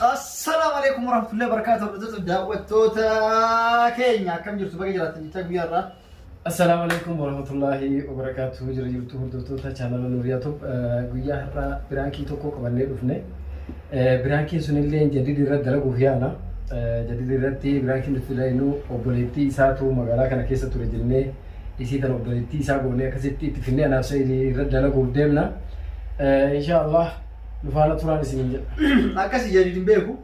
Assalaamu alaikum warahmatullahi wabarakatuh. Hordoftoota daawwattoota keenya akkam jirtu baga jiraatan jechaa guyyaa irraa. Assalaamu alaikum warahmatullahi wabarakatuh. Jira jirtu hordoftoota chaanala Nuuriyaa Tub guyyaa har'aa biraankii tokko qabannee dhufne. Eh, Biraankiin sunillee jadidi irratti dalaguuf yaala. Eh, Jadidi irratti biraankiin nuti ilaalinu obboleettii isaatu magaalaa kana keessa ture jennee isii tan obboleettii isaa goonee akkasitti itti finnee anaaf sa'iidii irra dalaguuf deemna insha Allah nu faana turaan isiniin jedha akkasi jadid hin beeku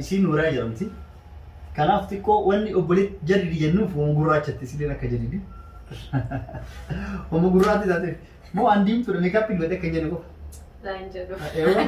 isiin nuuraa jedhamti kanaaf xiqqoo wanni obboleetti jadid jennuuf homo gurraachatti isileen akka jadidi homo gurraatti taate moo an diimtuudha meekaappii dibadhe akka hin jenne qofa Naan jedhu. Eewwa.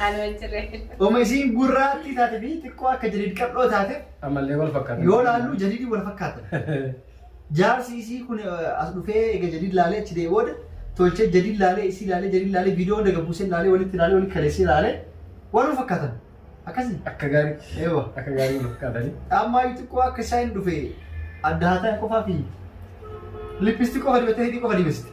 Anuma hin jirre. Oma isiin gurraattii taate fi xiqqoo akka jadid qal'oo taate Ammallee wal fakkaatan. Yoo laallu jadiidii wal fakkaatan. Jaarsi isii kun eh, as dhufee egaa jadiid laalee achi dee'e booda tolchee jadiid laalee isii laalee jadiid laalee viidiyoo hunda gabbuusee laalee walitti laalee walitti kaleessee laalee wal fakkaatan. Akkasii. Akka gaarii. Eewa. Akka gaarii wal fakkaatanii. Ammaa xiqqoo akka isaa hin dhufe adda haataa qofaa fi lippisti qofa dibattee hidhii qofa dibesti.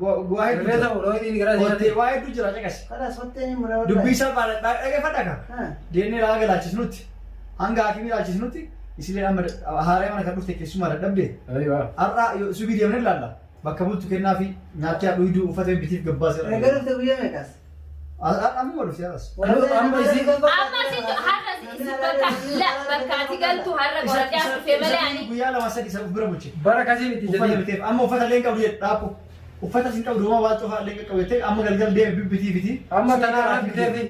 Bu'aa hedduu Rifeensa jira. fuudhoo inni gara Kottee deemee. waa hedduu jira caqasi. Kanas fattee ni mura. Dubbii isaa baala dhaggeeffadha ka. Ha. Deemnee ilaalaa galaachisnutti hanga haakimii ilaalchisnutti isilee amma haaree mana kan dhufte keessumaa dadhabde har'a yoo subii deemnee ilaalla bakka bultu kennaa fi nyaatee dhugduu uffata bitiif gabbaasee Egaa dhufte guyyaa meeqas? Amma wal si aras. Amma isin Amma situ har'a si si bakka la bakka ati galtu har'a qoradhaa dhufee malee ani Guyyaa lama sadii isa bira bulche. bara kasii miti Uffata jedhee. biteef amma uffata illee hin qabdu jedhe dhaabbu. Uffata isin qabdu homaa waan cufaa illee qaqqabu jettee amma galgal deeme bibbitii biti. Amma tanaa rakkiteefi.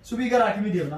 Subii gara hakimii deemna.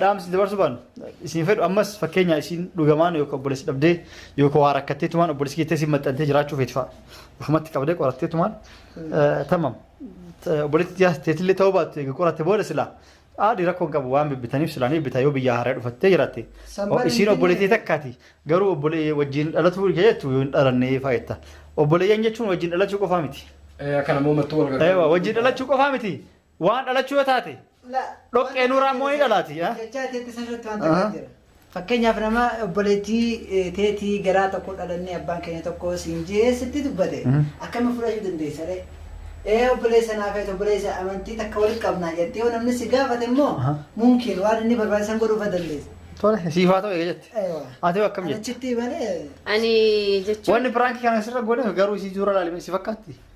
Dhaamsi dabarsuu baanu isin fedhu ammas fakkeenya isin dhugamaan yookaan obboleessi dhabdee yookaan waa rakkattee tumaan obboleessi keettee isin maxxantee jiraachuu feeti fa'a. Ofumatti qabdee qorattee tumaan tamam. Obboleetti tiyaas teetillee ta'uu baattu egaa qoratte booda silaa haadhi rakkoo hin qabu waan bibbitaniif silaa ni bitaa yoo biyyaa haaraa dhufattee jiraatte. Sammaan Isiin hin obboleettii jenne. takkaati garuu obbolee wajjin dhalatuu hin jettu yoo hin dhalannee faayetta. Obboleeyyan jechuun wajjin dhalachuu qofaa miti. Kana moo mattuu wal Eewa wajjin dhalachuu qofaa miti. Waan dhalachuu yoo taate dhoqqee nuuraa immoo ni dhalaati. Jechaa teetti sirriitti waan takka jira. Fakkeenyaaf nama obboleettii teetii garaa tokko dhalannee abbaan keenya tokko siin jee sitti dubbate akkami fudhachuu dandeessa ree? Ee obboleessa naa feetu obboleessa amantii takka walitti qabnaa jettee yoo namni si gaafate immoo mumkiin waan inni barbaade san godhuufa dandeessa. Tole siif haa ta'u eega jette. Eewa. Ati hoo akkam jette? Achitti malee Ani jechuun Wanni piraankii kana sirra goone garuu isii suura laalimee si fakkaatti.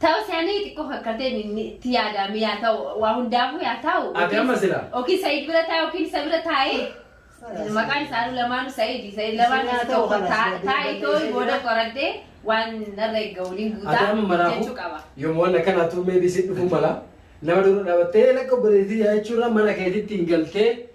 Ta'us yaani xiqqoo fakkartee itti yaadaame yaa ta'u waa hundaafuu yaa ta'u. Agama sila. Yookiin Said bira taa'e yookiin isa bira taa'e. Maqaan isaanuu lamaanu Said. Said lamaan isa tokko taa'e tooyi booda qoradde waan narra eeggamu ni guutaa Agama maraafu jechuu qaba. yoom waan akkanaa tuu meebii si dhufuu mala. Nama dura dhaabattee lakka obboleettii yaa jechuurra mana keetitti hin galtee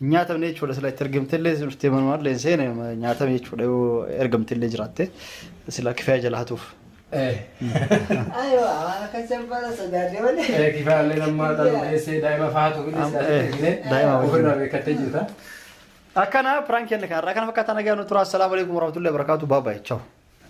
Hin nyaatamne jechuudha sila itti ergamtellee dhuftee manumallee hin seene nyaatame jechuudha yoo ergamtellee jiraatte sila kifaya jala hatuuf. Ayo, akan sembara sudah dia mana? Kifaallee nammaa xaluu keessee daa'ima faatu fi Am- eh, dhiisee daa'ima wajjin. ofirraa beekattee jirta. Akkana piraankiin kan irraa kana fakkaata nagaa nu tura. Assalaamu alaikum warahmatullahi wabarakatuh. Bye bye. Ciao.